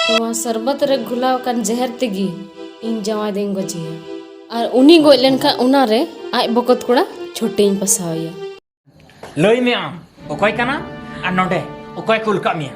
ᱱᱚᱣᱟ ᱥᱚᱨᱵᱚᱛ ᱨᱮ ᱜᱷᱩᱞᱟᱣ ᱟᱠᱟᱱ ᱡᱮᱦᱮᱨ ᱛᱮᱜᱮ ᱤᱧ ᱡᱟᱶᱟᱭ ᱫᱚᱧ ᱜᱚᱡᱮᱭᱟ ᱟᱨ ᱩᱱᱤ ᱜᱚᱡ ᱞᱮᱱᱠᱷᱟᱱ ᱚᱱᱟᱨᱮ ᱟᱡ ᱵᱚᱠᱚᱛ ᱠᱚᱲᱟ ᱪᱷᱩᱴᱤᱧ ᱯᱟᱥᱟᱣᱮᱭᱟ ᱞᱟᱹᱭ ᱢᱮ ᱟᱢ ᱚᱠᱚᱭ ᱠᱟᱱᱟ ᱟᱨ ᱱᱚᱰᱮ ᱚᱠᱚᱭ ᱠᱩᱞ ᱠᱟᱜ ᱢᱮᱭᱟ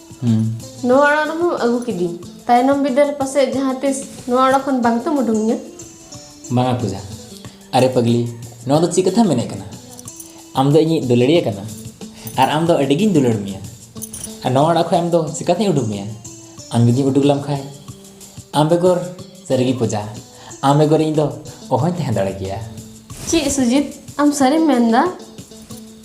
ᱦᱩᱸ ᱱᱚᱣᱟ ᱚᱲᱟᱜ ᱨᱮᱢᱟ ᱟᱹᱜᱩ ᱠᱤᱫᱤᱧ ᱛᱟᱭᱱᱚᱢ ᱵᱤᱫᱟᱹᱞ ᱨᱮ ᱯᱟᱥᱮᱡ ᱡᱟᱦᱟᱸ ᱛᱤᱥ ᱱᱚᱣᱟ ᱚᱲᱟᱜ ᱠᱷᱚᱱ ᱵᱟᱝ ᱛᱮᱢ ᱩᱰᱩᱝᱤᱧᱟ ᱵᱟᱝᱟ ᱯᱩᱡᱟ ᱟᱨᱮ ᱯᱟᱜᱽᱞᱤ ᱱᱚᱣᱟ ᱫᱚ ᱪᱮᱫ ᱠᱟᱛᱷᱟᱢ ᱢᱮᱱᱮᱫ ᱠᱟᱱᱟ ᱟᱢ ᱫᱚ ᱤᱧᱤᱡ ᱫᱩᱞᱟᱹᱲᱤᱭᱟᱹ ᱠᱟᱱᱟᱢ ᱟᱨ ᱟᱢ ᱫᱚ ᱟᱹᱰᱤᱜᱤᱧ ᱫᱩᱞᱟᱹᱲ ᱢᱮᱭᱟ ᱟᱨ ᱱᱚᱣᱟ ᱚᱲᱟᱜ ᱠᱷᱚᱱ ᱟᱢ ᱫᱚ ᱪᱤᱠᱟᱛᱤᱧ ᱩᱰᱩᱠ ᱢᱮᱭᱟ ᱟᱢ ᱡᱩᱫᱤᱢ ᱩᱰᱩᱠ ᱞᱮᱢ ᱠᱷᱟᱱ ᱟᱢ ᱵᱮᱜᱚᱨ ᱥᱟᱹᱨᱤᱜᱮ ᱯᱩᱡᱟ ᱟᱢ ᱵᱮᱜᱚᱨ ᱤᱧ ᱫᱚ ᱚᱦᱚᱧ ᱛᱟᱦᱮᱸ ᱫᱟᱲᱮ ᱠᱮᱭᱟ ᱪᱮᱫ ᱥᱩᱡᱤᱛ ᱟᱢ ᱥᱟᱹᱨᱤᱢ ᱢᱮᱱᱫᱟ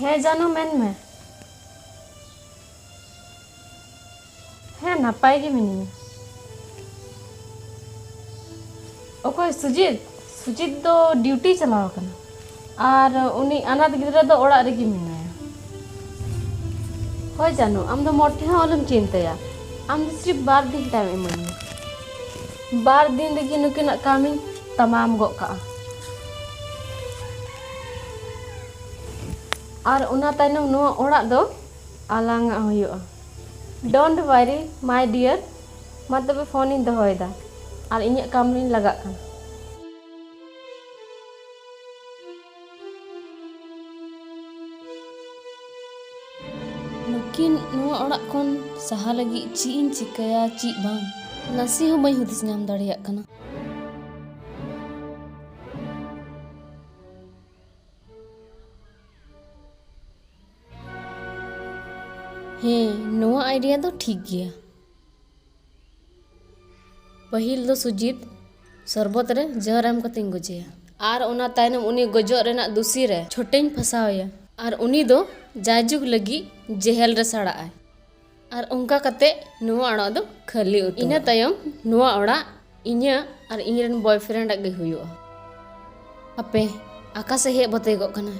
ᱦᱮᱸ ᱡᱟᱱᱩ ᱢᱮᱱ ᱢᱮ ᱦᱮᱸ ᱱᱟᱯᱟᱭ ᱜᱮ ᱢᱤᱱᱟᱹᱧᱟ ᱚᱠᱚᱭ ᱥᱩᱡᱤᱛ ᱥᱩᱡᱤᱛ ᱫᱚ ᱰᱤᱭᱩᱴᱤ ᱪᱟᱞᱟᱣ ᱟᱠᱟᱱᱟ ᱟᱨ ᱩᱱᱤ ᱟᱱᱟᱛ ᱜᱤᱫᱽᱨᱟᱹ ᱫᱚ ᱚᱲᱟᱜ ᱨᱮᱜᱮ ᱢᱮᱱᱟᱭᱟ ᱦᱳᱭ ᱡᱟᱱᱩ ᱟᱢ ᱫᱚ ᱢᱚᱴᱷᱮ ᱦᱚᱸ ᱟᱞᱚᱢ ᱪᱤᱱᱛᱟᱹᱭᱟ ᱟᱢ ᱫᱚ ᱥᱤᱨᱤᱯ ᱵᱟᱨ ᱫᱤᱱ ᱴᱟᱭᱤᱢ ᱤᱢᱟᱹᱧ ᱢᱮ ᱵᱟᱨ ᱫᱤᱱ ᱨᱮᱜᱮ ᱱᱩᱠᱤᱱᱟᱜ ᱠᱟᱹᱢᱤᱧ ᱛᱟᱢᱟᱢ ᱜᱚᱫ ᱠᱟᱜᱼᱟ ᱟᱨ ᱚᱱᱟ ᱛᱟᱭᱱᱚᱢ ᱱᱚᱣᱟ ᱚᱲᱟᱜ ᱫᱚ ᱟᱞᱟᱝᱟᱜ ᱦᱩᱭᱩᱜᱼᱟ ᱰᱳᱱᱴ ᱣᱟᱨᱤ ᱢᱟᱭ ᱰᱤᱭᱟᱨ ᱢᱟ ᱛᱚᱵᱮ ᱯᱷᱳᱱᱤᱧ ᱫᱚᱦᱚᱭᱮᱫᱟ ᱟᱨ ᱤᱧᱟᱹᱜ ᱠᱟᱹᱢᱤ ᱨᱤᱧ ᱞᱟᱜᱟᱜ ᱠᱟᱱᱟ ᱱᱩᱠᱤᱱ ᱱᱚᱣᱟ ᱚᱲᱟᱜ ᱠᱷᱚᱱ ᱥᱟᱦᱟ ᱞᱟᱹᱜᱤᱫ ᱪᱮᱫ ᱤᱧ ᱪᱤᱠᱟᱹᱭᱟ ᱪᱮᱫ ᱵᱟᱝ ᱱᱟᱥᱮ ᱦᱚᱸ ᱵᱟᱹᱧ ᱦᱩᱫᱤᱥ ᱧᱟᱢ ᱫᱟᱲᱮᱭᱟᱜ ᱠᱟᱱᱟ ᱦᱮᱸ ᱱᱚᱣᱟ ᱟᱭᱰᱤᱭᱟ ᱫᱚ ᱴᱷᱤᱠ ᱜᱮᱭᱟ ᱯᱟᱹᱦᱤᱞ ᱫᱚ ᱥᱩᱡᱤᱛ ᱥᱚᱨᱵᱚᱛ ᱨᱮ ᱡᱚᱦᱚᱨ ᱮᱢ ᱠᱟᱛᱮᱧ ᱜᱚᱡᱮᱭᱟ ᱟᱨ ᱚᱱᱟ ᱛᱟᱭᱱᱚᱢ ᱩᱱᱤ ᱜᱚᱡᱚᱜ ᱨᱮᱱᱟᱜ ᱫᱩᱥᱤ ᱨᱮ ᱪᱷᱚᱴᱮᱧ ᱯᱷᱟᱥᱟᱣᱮᱭᱟ ᱟᱨ ᱩᱱᱤ ᱫᱚ ᱡᱟᱭᱡᱩᱜᱽ ᱞᱟᱹᱜᱤᱫ ᱡᱮᱦᱮᱞ ᱨᱮ ᱥᱟᱲᱟᱜᱼᱟᱭ ᱟᱨ ᱚᱱᱠᱟ ᱠᱟᱛᱮ ᱱᱚᱣᱟ ᱚᱲᱟᱜ ᱫᱚ ᱠᱷᱟᱹᱞᱤ ᱩᱛᱟᱹᱨ ᱤᱱᱟᱹ ᱛᱟᱭᱚᱢ ᱱᱚᱣᱟ ᱚᱲᱟᱜ ᱤᱧᱟᱹᱜ ᱟᱨ ᱤᱧ ᱨᱮᱱ ᱵᱚᱭᱯᱷᱨᱮᱱᱰ ᱟᱜ ᱜᱮ ᱦᱩᱭᱩᱜᱼᱟ ᱟᱯᱮ ᱟᱠᱟ ᱥᱮᱫ ᱦᱮᱡ ᱵᱟᱛᱮ ᱠᱚᱜ ᱠᱟᱱᱟ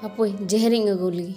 ᱦᱟᱯᱳᱭ ᱡᱮᱦᱮᱨᱤᱧ ᱟᱹᱜᱩ ᱞᱮᱜᱮ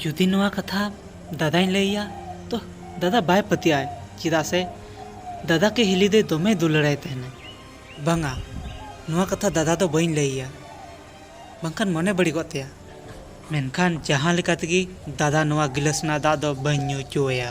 ᱡᱩᱫᱤ ᱱᱚᱣᱟ ᱠᱟᱛᱷᱟ ᱫᱟᱫᱟᱧ ᱞᱟᱹᱭ ᱟᱭᱟ ᱛᱚ ᱫᱟᱫᱟ ᱵᱟᱭ ᱯᱟᱹᱛᱭᱟᱹᱜᱼᱟ ᱪᱮᱫᱟᱜ ᱥᱮ ᱫᱟᱫᱟ ᱠᱮ ᱦᱤᱞᱤ ᱫᱚ ᱫᱚᱢᱮ ᱫᱩᱞᱟᱹᱲᱟᱭ ᱛᱟᱦᱮᱱᱟ ᱵᱟᱝᱟ ᱱᱚᱣᱟ ᱠᱟᱛᱷᱟ ᱫᱟᱫᱟ ᱫᱚ ᱵᱟᱹᱧ ᱞᱟᱹᱭ ᱟᱭᱟ ᱵᱟᱝᱠᱷᱟᱱ ᱢᱚᱱᱮ ᱵᱟᱹᱲᱤᱡᱚᱜ ᱛᱟᱭᱟ ᱢᱮᱱᱠᱷᱟᱱ ᱡᱟᱦᱟᱸ ᱞᱮᱠᱟ ᱛᱮᱜᱮ ᱫᱟᱫᱟ ᱱᱚᱣᱟ ᱜᱤᱞᱟᱹᱥ ᱨᱮᱱᱟᱜ ᱫᱟᱜ ᱫᱚ ᱵᱟᱹᱧ ᱧᱩ ᱦᱚᱪᱚ ᱟᱭᱟ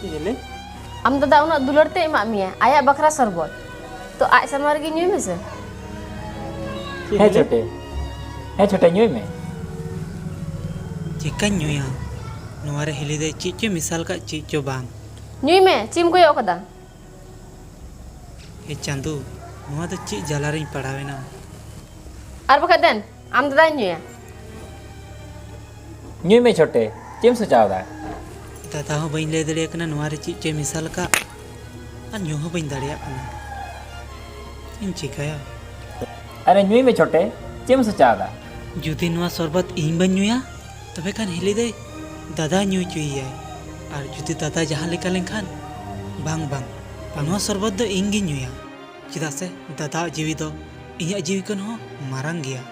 ᱪᱮᱞᱮ ᱟᱢ ᱫᱟᱫᱟ ᱩᱱᱟᱹᱜ ᱫᱩᱞᱟᱹᱲ ᱛᱮ ᱮᱢᱟᱜ ᱢᱮᱭᱟ ᱟᱭᱟᱜ ᱵᱟᱠᱷᱨᱟ ᱥᱚᱨᱵᱚᱛ ᱛᱚ ᱟᱡ ᱥᱟᱢᱟᱝ ᱨᱮᱜᱮ ᱧᱩᱭ ᱢᱮᱥᱮ ᱦᱮᱸ ᱪᱷᱚᱴᱮ ᱦᱮᱸ ᱪᱷᱚᱴᱮ ᱧᱩᱭ ᱢᱮ ᱪᱮᱠᱟᱧ ᱧᱩᱭᱟ ᱱᱚᱣᱟ ᱨᱮ ᱦᱤᱞᱤ ᱫᱚ ᱪᱮᱫ ᱪᱚ ᱢᱮᱥᱟᱞ ᱠᱟᱜ ᱪᱮᱫ ᱪᱚ ᱵᱟᱝ ᱧᱩᱭ ᱢᱮ ᱪᱮᱫ ᱮᱢ ᱠᱚᱭᱚᱜ ᱠᱟᱫᱟ ᱮ ᱪᱟᱸᱫᱚ ᱱᱚᱣᱟ ᱫᱚ ᱪᱮᱫ ᱡᱟᱞᱟ ᱨᱤᱧ ᱯᱟᱲᱟᱣᱮᱱᱟ ᱟᱨ ᱵᱟᱠᱷᱟᱡ ᱫᱮᱱ ᱟᱢ ᱫᱟᱫᱟᱧ ᱧᱩᱭᱟ ᱧᱩᱭ ᱢᱮ ᱪᱷᱚᱴᱮ ᱪᱮᱫ ᱮᱢ ᱥᱚᱪᱟᱣᱫᱟ ᱫᱟᱫᱟ ᱦᱚᱸ ᱵᱟᱹᱧ ᱞᱟᱹᱭ ᱫᱟᱲᱮᱭᱟᱜ ᱠᱟᱱᱟ ᱱᱚᱣᱟ ᱨᱮ ᱪᱮᱫ ᱪᱚᱭ ᱢᱮᱥᱟᱞ ᱟᱠᱟᱫ ᱟᱨ ᱧᱩ ᱦᱚᱸ ᱵᱟᱹᱧ ᱫᱟᱲᱮᱭᱟᱜ ᱠᱟᱱᱟ ᱪᱮᱫ ᱤᱧ ᱪᱤᱠᱟᱹᱭᱟ ᱟᱨᱮ ᱧᱩᱭ ᱢᱮ ᱪᱷᱚᱴᱮ ᱪᱮᱫ ᱮᱢ ᱥᱚᱪᱟᱣᱫᱟ ᱡᱩᱫᱤ ᱱᱚᱣᱟ ᱥᱚᱨᱵᱚᱛ ᱤᱧ ᱵᱟᱹᱧ ᱧᱩᱭᱟ ᱛᱚᱵᱮ ᱠᱷᱟᱱ ᱦᱤᱞᱤ ᱫᱟᱹᱭ ᱫᱟᱫᱟ ᱧᱩ ᱦᱚᱪᱚᱭᱮᱭᱟᱭ ᱟᱨ ᱡᱩᱫᱤ ᱫᱟᱫᱟ ᱡᱟᱦᱟᱸ ᱞᱮᱠᱟ ᱞᱮᱱᱠᱷᱟᱱ ᱵᱟᱝ ᱵᱟᱝ ᱱᱚᱣᱟ ᱥᱚᱨᱵᱚᱛ ᱫᱚ ᱤᱧ ᱜᱤᱧ ᱧᱩᱭᱟ ᱪᱮᱫᱟᱜ ᱥᱮ ᱫᱟᱫᱟᱣᱟᱜ ᱡᱤᱣᱤ ᱫᱚ ᱤᱧᱟᱹᱜ ᱡᱤᱣᱤ ᱠᱷᱚᱱ ᱦᱚᱸ ᱢᱟᱨᱟᱝ ᱜᱮᱭᱟ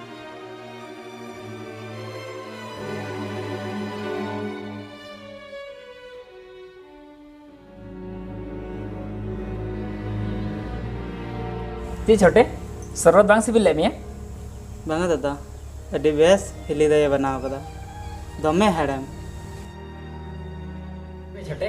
ᱪᱮᱫ ᱪᱷᱚᱴᱮ ᱥᱚᱨᱵᱚᱛ ᱵᱟᱝ ᱥᱤᱵᱤᱞ ᱞᱮᱫ ᱢᱮᱭᱟ ᱵᱟᱝᱟ ᱫᱟᱫᱟ ᱟᱹᱰᱤ ᱵᱮᱥ ᱦᱤᱞᱤ ᱫᱟᱭᱮ ᱵᱮᱱᱟᱣ ᱠᱟᱫᱟ ᱫᱚᱢᱮ ᱦᱮᱲᱮᱢ ᱪᱷᱚᱴᱮ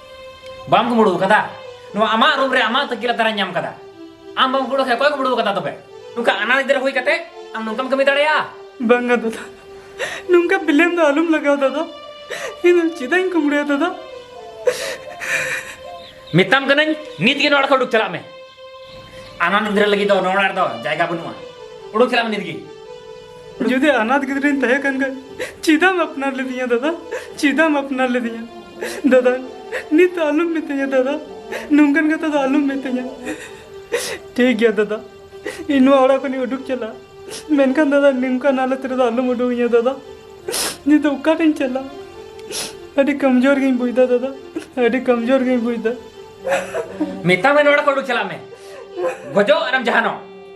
ᱵᱟᱢ ᱠᱩᱢᱲᱩ ᱠᱟᱫᱟ ᱱᱚᱣᱟ ᱟᱢᱟᱜ ᱨᱩᱢ ᱨᱮ ᱟᱢᱟᱜ ᱛᱟᱹᱠᱤ ᱞᱟᱛᱟᱨ ᱧᱟᱢ ᱠᱟᱫᱟ ᱟᱢ ᱵᱟᱢ ᱠᱩᱢᱲᱩ ᱠᱷᱟᱱ ᱚᱠᱚᱭ ᱠᱩᱢᱲᱩ ᱠᱟᱫᱟ ᱛᱚᱵᱮ ᱱᱚᱝᱠᱟ ᱟᱱᱟᱲ ᱜᱤᱫᱽᱨᱟᱹ ᱦᱩᱭ ᱠᱟᱛᱮ ᱟᱢ ᱱᱚᱝᱠᱟᱢ ᱠᱟᱹᱢᱤ ᱫᱟᱲᱮᱭᱟᱜᱼᱟ ᱵᱟᱝᱟ ᱫᱟᱫᱟ ᱱᱚᱝᱠᱟ ᱵᱤᱞᱮᱢ ᱫᱚ ᱟᱞᱚᱢ ᱞᱟᱜᱟᱣ ᱫᱟᱫᱟ ᱤᱧ ᱫᱚ ᱪᱮᱫᱟᱜ ᱤᱧ ᱠᱩᱢᱲᱩᱭᱟ ᱫᱟᱫᱟ ᱢᱮᱛᱟᱢ ᱠᱟᱹᱱᱟᱹᱧ ᱱᱤᱛ ᱜᱮ ᱱᱚᱣᱟ ᱚᱲᱟᱜ ᱠᱷᱚᱱ ᱩᱰᱩᱠ ᱪᱟᱞᱟᱜ ᱢᱮ ᱟᱱᱟᱲ ᱜᱤᱫᱽᱨᱟᱹ ᱞᱟᱹᱜᱤᱫ ᱫᱚ ᱱᱚᱣᱟ ᱚᱲᱟᱜ ᱨᱮᱫᱚ ᱡᱟᱭᱜᱟ ᱵᱟᱹᱱᱩᱜᱼᱟ ᱩᱰᱩᱠ ᱪᱟᱞᱟᱜ ᱢᱮ ᱱᱤᱛ ᱜᱮ ᱡᱩᱫᱤ ᱟᱱᱟᱛ ᱜᱤᱫᱽᱨᱟᱹᱧ ᱛᱟᱦᱮᱸ ᱠᱟᱱ ᱠᱷᱟᱱ ᱪᱮᱫᱟᱢ ᱟᱯᱱᱟᱨ ᱞᱤᱫᱤᱧᱟ ᱫᱟᱫᱟ ᱪᱮᱫᱟᱢ ᱟᱯᱱᱟᱨ ᱞᱤᱫᱤᱧᱟ ᱫᱟᱫᱟ ᱱᱤᱛ ᱫᱚ ᱟᱞᱚᱢ ᱢᱤᱛᱟᱹᱧᱟ ᱫᱟᱫᱟ ᱱᱚᱝᱠᱟᱱ ᱠᱟᱛᱷᱟ ᱫᱚ ᱟᱞᱚᱢ ᱢᱤᱛᱟᱹᱧᱟ ᱴᱷᱤᱠ ᱜᱮᱭᱟ ᱫᱟᱫᱟ ᱤᱧ ᱱᱚᱣᱟ ᱚᱲᱟᱜ ᱠᱷᱚᱱᱤᱧ ᱩᱰᱩᱠ ᱪᱟᱞᱟᱜᱼᱟ ᱢᱮᱱᱠᱷᱟᱱ ᱫᱟᱫᱟ ᱱᱚᱝᱠᱟᱱ ᱦᱟᱞᱚᱛ ᱨᱮᱫᱚ ᱟᱞᱚᱢ ᱩᱰᱩᱠᱤᱧᱟ ᱫᱟᱫᱟ ᱱᱤᱛ ᱫᱚ ᱚᱠᱟᱨᱤᱧ ᱪᱟᱞᱟᱜᱼᱟ ᱟᱹᱰᱤ ᱠᱚᱢᱡᱳᱨ ᱜᱤᱧ ᱵᱩᱡᱽᱫᱟ ᱫᱟᱫᱟ ᱟᱹᱰᱤ ᱠᱚᱢᱡᱳᱨ ᱜᱤᱧ ᱵᱩᱡᱽᱫᱟ ᱢᱮᱛᱟᱢᱟᱹᱧ ᱚᱲᱟᱜ ᱠᱷᱚᱱ ᱩᱰᱩᱠ ᱪᱟᱞᱟᱜ ᱢᱮ ᱜᱚᱡᱚᱜ ᱟᱨᱮᱢ ᱡᱟᱦᱟᱱᱚᱜ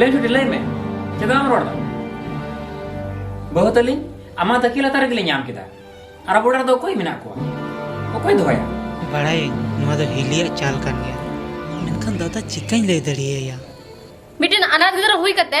ᱞᱟᱹᱭ ᱪᱩᱴᱤ ᱞᱟᱹᱭ ᱢᱮ ᱪᱮᱫ ᱵᱟᱢ ᱨᱚᱲ ᱫᱟ ᱵᱟᱹᱦᱩ ᱛᱟᱹᱞᱤᱧ ᱟᱢᱟᱜ ᱛᱟᱹᱠᱤ ᱞᱟᱛᱟᱨ ᱨᱮᱜᱮ ᱞᱤᱧ ᱧᱟᱢ ᱠᱮᱫᱟ ᱟᱨ ᱟᱵᱚ ᱚᱲᱟᱜ ᱨᱮᱫᱚ ᱚᱠᱚᱭ ᱢᱮᱱᱟᱜ ᱠᱚᱣᱟ ᱚᱠᱚᱭ ᱫᱚᱦᱚᱭᱟ ᱵᱟᱲᱟᱭᱟᱹᱧ ᱱᱚᱣᱟ ᱫᱚ ᱦᱤᱞᱤᱭᱟᱜ ᱪᱟᱞ ᱠᱟᱱ ᱜᱮᱭᱟ ᱢᱮᱱᱠᱷᱟᱱ ᱫᱟᱫᱟ ᱪᱤᱠᱟᱹᱧ ᱞᱟᱹᱭ ᱫᱟᱲᱮᱭᱟᱭᱟ ᱢᱤᱫᱴᱮᱱ ᱟᱱᱟᱛ ᱜᱤᱫᱽᱨᱟᱹ ᱦᱩᱭ ᱠᱟᱛᱮ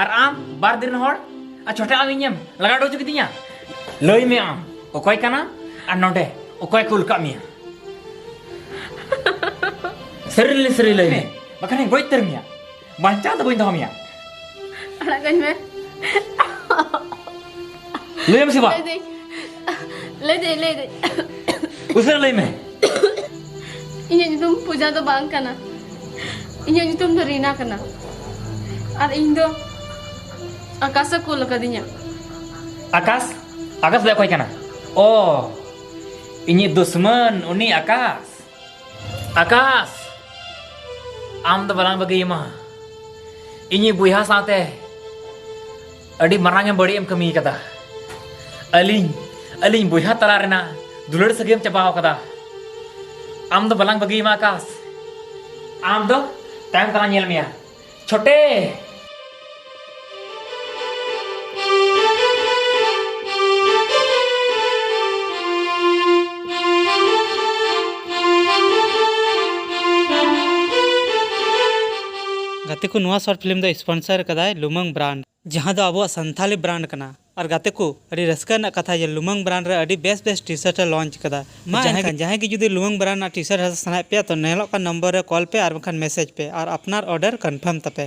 ᱟᱨ ᱟᱢ ᱵᱟᱨ ᱫᱤᱱ ᱦᱚᱲ ᱟᱨ ᱪᱷᱚᱴᱟ ᱟᱢ ᱤᱧᱮᱢ ᱞᱟᱜᱟ ᱦᱚᱪᱚ ᱠᱤᱫᱤᱧᱟ ᱞᱟᱹᱭ ᱢᱮ ᱟᱢ ᱚᱠᱚᱭ ᱠᱟᱱᱟ ᱟᱨ ᱱᱚᱰᱮ ᱚᱠᱚᱭ ᱠᱩᱞ ᱠᱟᱜ ᱢᱮᱭᱟ ᱥᱟᱹᱨᱤ ᱞᱮ ᱥᱟᱹᱨᱤ ᱞᱟᱹᱭ ᱢᱮ ᱵᱟᱠᱷᱟᱱ ᱤᱧ ᱜᱚᱡ ᱩᱛᱟᱹᱨ ᱢᱮᱭᱟ ᱵᱟᱧᱪᱟᱣ ᱫᱚ ᱵᱟᱹᱧ ᱫᱚᱦᱚ ᱢᱮᱭᱟ ᱟᱲᱟᱜ ᱠᱟᱹᱧ ᱢᱮ ᱞᱟᱹᱭ ᱢᱮ ᱥᱮ ᱵᱟᱝ ᱞᱟᱹᱭᱫᱟᱹᱧ ᱞᱟᱹᱭ ᱫᱟᱹᱧ ᱞᱟᱹᱭ ᱫᱟᱹᱧ ᱩᱥᱟᱹᱨᱟ ᱞᱟᱹᱭ ᱢᱮ ᱤᱧᱟᱹᱜ ᱧᱩᱛᱩᱢ ᱯᱩᱡᱟ ᱫᱚ ᱵᱟᱝ ᱠᱟᱱᱟ ᱤᱧᱟᱹᱜ ᱧᱩᱛᱩᱢ ᱫᱚ ᱨᱤᱱᱟ ᱠᱟᱱᱟ ᱟᱨ ᱤᱧ ᱫᱚ ᱟᱠᱟᱥ ᱮ ᱠᱩᱞ ᱟᱠᱟᱫᱤᱧᱟ ᱟᱠᱟᱥ ᱟᱠᱟᱥ ᱫᱚ ᱚᱠᱚᱭ ᱠᱟᱱᱟ ᱚ ᱤᱧᱤᱡ ᱫᱩᱥᱢᱟᱱ ᱩᱱᱤ ᱟᱠᱟᱥ ᱟᱠᱟᱥ ᱟᱢ ᱫᱚ ᱵᱟᱞᱟᱝ ᱵᱟᱹᱜᱤᱭᱟᱢᱟ ᱤᱧᱤᱡ ᱵᱚᱭᱦᱟ ᱥᱟᱶᱛᱮ ᱟᱹᱰᱤ ᱢᱟᱨᱟᱝ ᱮᱢ ᱵᱟᱹᱲᱤᱡ ᱮᱢ ᱠᱟᱹᱢᱤ ᱠᱟᱫᱟ ᱟᱹᱞᱤᱧ ᱟᱹᱞᱤᱧ ᱵᱚᱭᱦᱟ ᱛᱟᱞᱟ ᱨᱮᱱᱟᱜ ᱫᱩᱞᱟᱹᱲ ᱥᱟᱹᱜᱟᱹᱭᱮᱢ ᱪᱟᱵᱟᱣ ᱠᱟᱫᱟ ᱟᱢ ᱫᱚ ᱵᱟᱞᱟᱝ ᱵᱟᱹᱜᱤᱭᱟᱢᱟ ᱟᱠᱟᱥ ᱟᱢ ᱫᱚ ᱛᱟᱭᱚᱢ ᱛᱟᱞᱟᱝ ᱧᱮᱞ ᱢᱮᱭᱟ ᱪᱷᱚᱴᱮ ᱜᱟᱛᱮ ᱠᱚ ᱱᱚᱣᱟ ᱥᱚᱨᱴ ᱯᱷᱤᱞᱢ ᱫᱚ ᱥᱯᱚᱱᱥᱚᱨ ᱟᱠᱟᱫᱟᱭ ᱞᱩᱢᱟᱹᱝ ᱵᱨᱟᱱᱰ᱾ ᱡᱟᱦᱟᱸ ᱫᱚ ᱟᱵᱚᱣᱟᱜ ᱥᱟᱱᱛᱷᱟᱞᱤ ᱵᱨᱟᱱᱰ ᱠᱟᱱᱟ᱾ ᱟᱨ ᱜᱟᱛᱮ ᱠᱚ, ᱟᱹᱰᱤ ᱨᱟᱹᱥᱠᱟᱹ ᱨᱮᱱᱟᱜ ᱠᱟᱛᱷᱟ ᱡᱮ ᱞᱩᱢᱟᱹᱝ ᱵᱨᱟᱱᱰ ᱨᱮ ᱟᱹᱰᱤ ᱵᱮᱥ ᱵᱮᱥ ᱴᱤ-ᱥᱟᱨᱴ ᱮ ᱞᱚᱱᱪ ᱟᱠᱟᱫᱟ᱾ ᱢᱟ ᱮᱱᱠᱷᱟᱱ ᱡᱟᱦᱟᱸᱭ ᱜᱮ ᱡᱩᱫᱤ ᱞᱩᱢᱟᱹᱝ ᱵᱨᱟᱱᱰ ᱨᱮᱱᱟᱜ ᱴᱤ-ᱥᱟᱨᱴ ᱦᱟᱛᱟᱣ ᱥᱟᱱᱟᱭᱮᱫ ᱯᱮᱭᱟ ᱛᱚ ᱧᱮᱞᱚᱜ ᱠᱟᱱ ᱱᱚᱢᱵᱚᱨ ᱨᱮ ᱠᱚᱞ ᱯᱮ ᱟᱨ ᱵᱟᱝᱠᱷᱟᱱ ᱢᱮᱥᱮᱡᱽ ᱯᱮ ᱟᱨ ᱟᱯᱱᱟᱨ ᱚᱨᱰᱟᱨ ᱠᱚᱱᱯᱷᱟᱨᱢ ᱛᱟᱯᱮ᱾